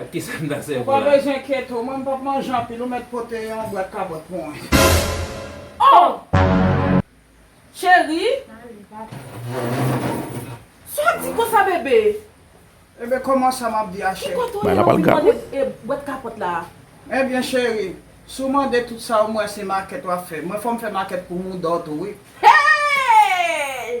Ou pa bezwen kyète ou mwen m pap manje anpil ou mèt pote yon bwat kabòt pou mwen. Oh! Cheri! Sa w ap di konsa bebe? Ebe kòman sa m ap di a cheri? Ki kote w ye lè w vin mande bwat kapòt la a? Ebyen cheri, si w mande tout sa w m wè se makèt w ap fè. Mwen fò m fè makèt pou mouda w tou wi. Hey!